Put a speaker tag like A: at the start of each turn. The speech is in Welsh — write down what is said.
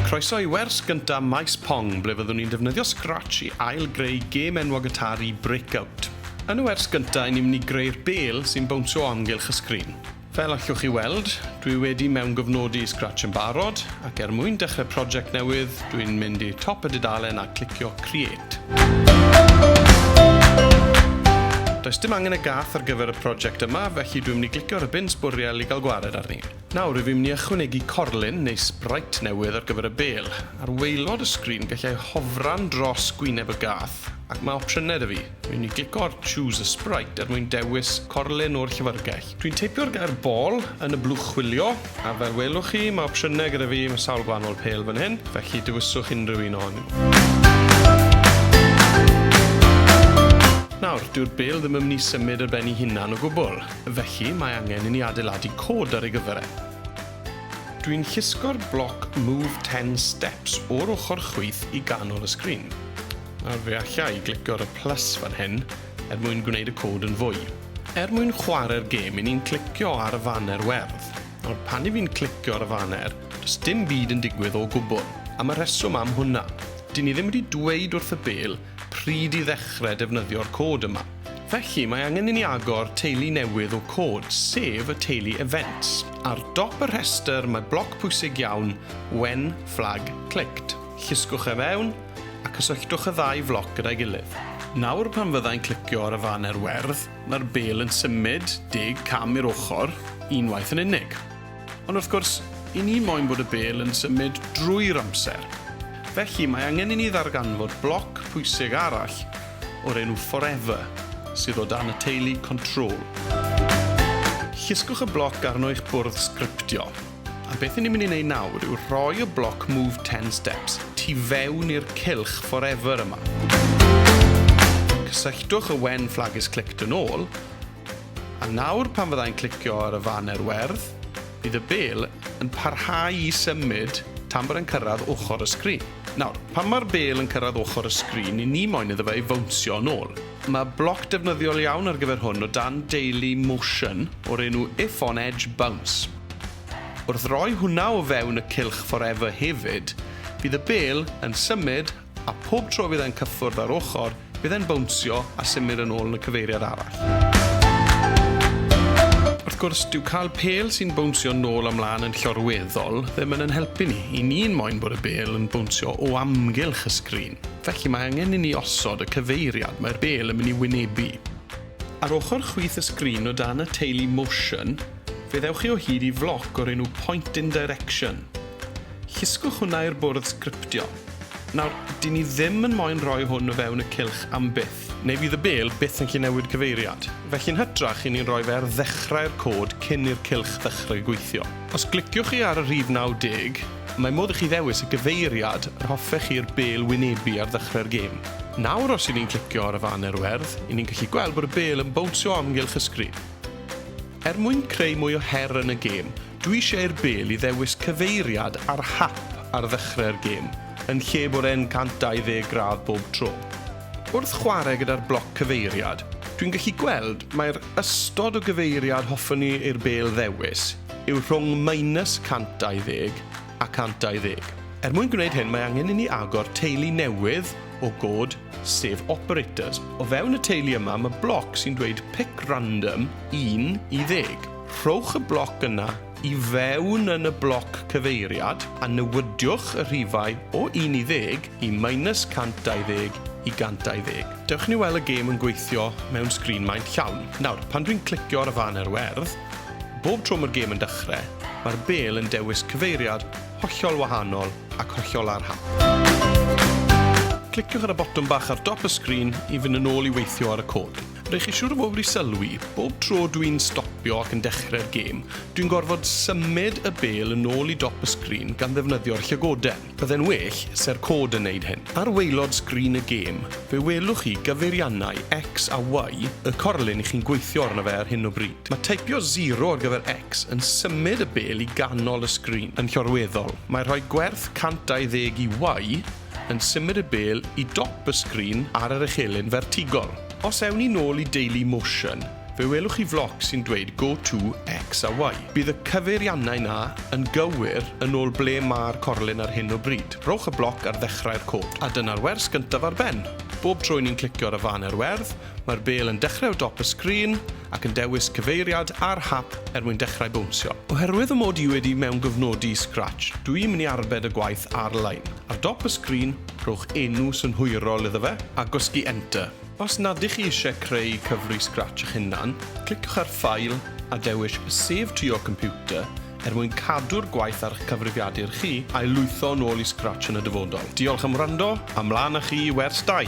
A: Croeso i wers gyntaf Maes Pong ble fyddwn ni'n defnyddio Scratch i ail-greu gêm enwog Atari, Breakout. Yn y wers gyntaf i ni'n mynd i greu'r bêl sy'n bownsio o amgylch y sgrin. Fel allwch chi weld, dwi wedi mewngofnodi Scratch yn barod, ac er mwyn dechrau project newydd, dwi'n mynd i top y dudalen a clicio Create. Does dim angen y gath ar gyfer y project yma, felly dwi'n mynd i glicio ar y bin sbwriel i gael gwared arni. Nawr, rwyf i'n mynd i ychwanegu corlin, neu sprite newydd ar gyfer y bêl. Ar waelod y sgrin, gallai hofran dros gwyneb y gath, ac mae opsiynau 'da fi. Rwy'n mynd i glicio ar Choose a Sprite er mwyn dewis corlin o'r llyfrgell. Dwi'n teipio'r gair 'ball' yn y blwch chwilio, a fel welwch chi, mae opsiynau gyda fi, mae sawl gwahanol pêl fan hyn, felly dewiswch unrhyw un ohonyn nhw. Nawr, dyw'r bêl ddim yn mynd i symud ar ben ei hunan o gwbl. Felly, mae angen i ni adeiladu cod ar ei gyfer e. Dwi'n llusgo'r bloc Move 10 Steps o'r ochr chwith i ganol y sgrin. Nawr fe alla i glicio ar y plus fan hyn er mwyn gwneud y cod yn fwy. Er mwyn chwarae'r gêm, i ni'n clicio ar y faner werdd. Nawr, pan i fi'n clicio ar y faner, does dim byd yn digwydd o gwbl. Am y rheswm am hwnna. Dyn ni ddim wedi dweud wrth y bêl pryd i ddechrau defnyddio'r cod yma. Felly, mae angen i ni agor teulu newydd o cod, sef y teulu Events. Ar dop y rhestr mae bloc pwysig iawn, When Flag Clicked. Llusgwch e fewn, a cysylltwch y ddau floc gyda'i gilydd. Nawr pan fyddai'n clicio ar y faner werdd, mae'r bêl yn symud deg cam i'r ochr, unwaith yn unig. Ond wrth gwrs, i ni moyn bod y bêl yn symud drwy'r amser. Felly, mae angen i ni ddarganfod bloc pwysig arall o'r enw Forever sydd o dan y teulu Control. Llusgwch y bloc arno eich bwrdd sgriptio. A beth i ni'n mynd i wneud nawr yw rhoi y bloc Move 10 Steps tu fewn i'r cylch Forever yma. Cysylltwch y wen Flag is Clicked yn ôl, A nawr pan fydda i'n clicio ar y faner werdd, bydd y bel yn parhau i symud tan bod e'n cyrraedd ochr y sgrin. Nawr, pan mae'r bel yn cyrraedd ochr y sgrin, ni ni moyn iddo fe ei fownsio yn ôl. Mae bloc defnyddiol iawn ar gyfer hwn o dan Daily Motion o'r enw If on Edge Bounce. Wrth roi hwnna o fewn y cylch Forever hefyd, bydd y bel yn symud A phob tro fydd e'n cyffwrdd â'r ochr, bydd e'n bownsio a symud yn ôl yn y cyfeiriad arall. Wrth gwrs, dyw cael pêl sy'n bownsio nôl a mlaen yn llorweddol ddim yn yn helpu ni. I ni'n moyn bod y bêl yn bownsio o amgylch y sgrin. Felly mae angen i ni osod y cyfeiriad mae'r bêl yn mynd i wynebu. Ar ochr chwith y sgrin o dan y teulu Motion, fe ddewch chi o hyd i floc o'r enw Point in Direction. Llusgwch hwnna i'r bwrdd sgriptio. Nawr, dyn ni ddim yn moyn rhoi hwn o fewn y cylch am byth. Neu fydd y Bil byth yn gallu newid cyfeiriad. Felly yn hytrach, i ni'n rhoi fe ar ddechrau'r cod cyn i'r cylch ddechrau gweithio. Os gliciwch chi ar y rhif 90, mae modd i chi ddewis y gyfeiriad yr hoffech chi'r Bil wynebu ar ddechrau'r gêm. Nawr os i ni'n clicio ar y faner werdd, i ni'n gallu gweld bod y Bil yn bownsio o amgylch y sgrin. Er mwyn creu mwy o her yn y gêm, Dwi eisiau i'r bêl i ddewis cyfeiriad ar hap ar ddechrau'r gêm, yn lle bod e'n 120 gradd bob tro. Wrth chwarae gyda'r bloc cyfeiriad, dwi'n gallu gweld mai'r ystod o gyfeiriad hoffwn i i'r bêl ddewis yw rhwng minus 120 a 120. Er mwyn gwneud hyn mae angen i ni agor teulu newydd o god, sef operators. O fewn y teulu yma mae bloc sy'n dweud pick random 1 i 10. Rhowch y bloc yna i fewn yn y bloc cyfeiriad a newidiwch y rhifau o 1 i 10 i minus 120 i 120. Dewch i ni weld y gêm yn gweithio mewn sgrin maint llawn. Nawr, pan dwi'n clicio ar y fan a'r werdd, Bob tro mae'r gêm yn dechrau, mae'r bêl yn dewis cyfeiriad hollol wahanol ac hollol ar hap. Cliciwch ar y botwm bach ar dop y sgrin i fynd yn ôl i weithio ar y cod. Rydych chi siŵr o fod wedi sylwi, bob tro dw i'n stopio ac yn dechrau'r gêm, dwi'n gorfod symud y bêl yn ôl i dop y sgrin gan ddefnyddio'r llygoden. Bydde'n well se'r cod yn neud hyn. Ar waelod sgrin y gêm, fe welwch chi gyfeiriannau X a Y y corlyn i chi'n gweithio arno fe ar hyn o bryd. Mae teipio zero ar gyfer X yn symud y bel i ganol y sgrin. Yn llorweddol, mae rhoi gwerth 120 i Y yn symud y bel i dop y sgrin ar yr echelin fertigol. Os ewn ni nôl i Daily Motion, Fe welwch chi floc sy'n dweud go to X a Y. Bydd y cyfeiriannau 'na yn gywir yn ôl ble mae'r corlun ar hyn o bryd. Rhowch y bloc ar ddechrau'r cod, a dyna'r wers gyntaf ar ben. Bob tro 'y ni'n clicio ar y fan er werdd, mae'r bêl yn dechrau o dop y sgrin ac yn dewis cyfeiriad ar hap er mwyn dechrau bownsio. Oherwydd fy mod i wedi mewngofnodi Scratch, dw i'n mynd i arbed y gwaith ar-lein. Ar dop y sgrin, rhowch enw synhwyrol iddo fe, a gwasgu Enter. Os nad ych chi eisiau creu cyfrwy Scratch eich hunan, cliciwch ar File a dewis Save to your Computer er mwyn cadw'r gwaith ar eich cyfrifiadur chi a'i lwytho yn ôl i Scratch yn y dyfodol. Diolch am wrando, a 'mlaen â chi i wers 2!